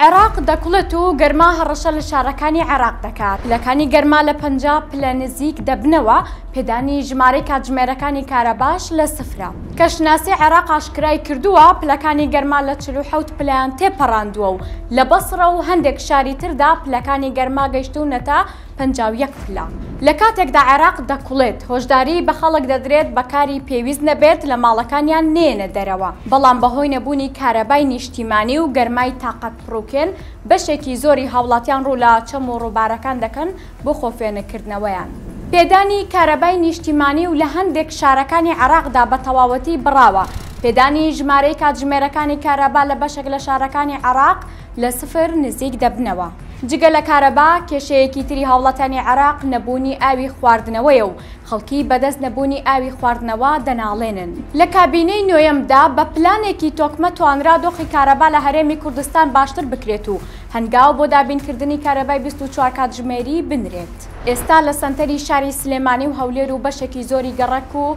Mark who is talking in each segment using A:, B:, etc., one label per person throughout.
A: عێراق دەکوڵێت و گەرما هەڕەشە لە شارەکانی عێراق دەکات. پلەکانی گەرما لە پەنجا پلە نزیک دەبنەوە، پێدانی ژمارەی کاتژمێرەکانی کارەباش لە سفرە. کەشناسی عێراق ئاشکرایکردووە، پلەکانی گەرما لە چل و حەوت پلەیان تێپەڕاندووە و لە بەسڕە و هەندێک شاری تردا پلەکانی گەرما گەیشتوونەتە پەنجا و یەک پلە. لە کاتێکدا عێراق دەکوڵێت، هۆشداریی بە خەڵک دەدرێت بەکاری پێویست نەبێت لە ماڵەکانیان نێنە دەرەوە، بەڵام بەهۆی نەبوونی کارەبای نیشتیمانی و گەرمای تاقەت پڕوکێن، بەشێکی زۆری هاوڵاتیان ڕوو لە چەم و ڕووبارەکان دەکەن بۆ خۆفێنکردنەوەیان. پێدانی کارەبای نیشتیمانی و لە هەندێک شارەکانی عێراقدا بە تەواوەتی بڕاوە، پێدانی ژمارەی کاتژمێرەکانی کارەبا لە بەشێک لە شارەکانی عێراق، لە سفر نزیک دەبنەوە. جگە لە کارەبا، کێشەیەکی تری هاوڵاتیانی عێراق نەبوونی ئاوی خواردنەوەیە و خەڵکی بەدەست نەبوونی ئاوی خواردنەوە دەناڵێنن. لە کابینەی نۆیەمدا بە پلانێکی تۆکمە توانرا دۆخی کارەبا لە هەرێمی کوردستان باشتر بکرێت و هەنگاو بۆ دابینکردنی کارەبای بیست و چوار کاتژمێری بنرێت. ئێستا لە سەنتەری شاری سلێمانی و هەولێر و بەشێکی زۆری گەڕەک و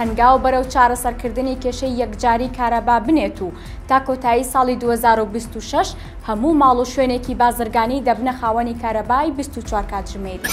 A: هەنگاو بەرەو چارەسەرکردنی کێشەی یەکجاری کارەبا بنێت و تا کۆتایی ساڵی دوو هەزار و بیست و شەش هەموو ماڵ و شوێنێکی بازرگانی دەبنە خاوەنی کارەبای بیست و چوار کاتژمێری.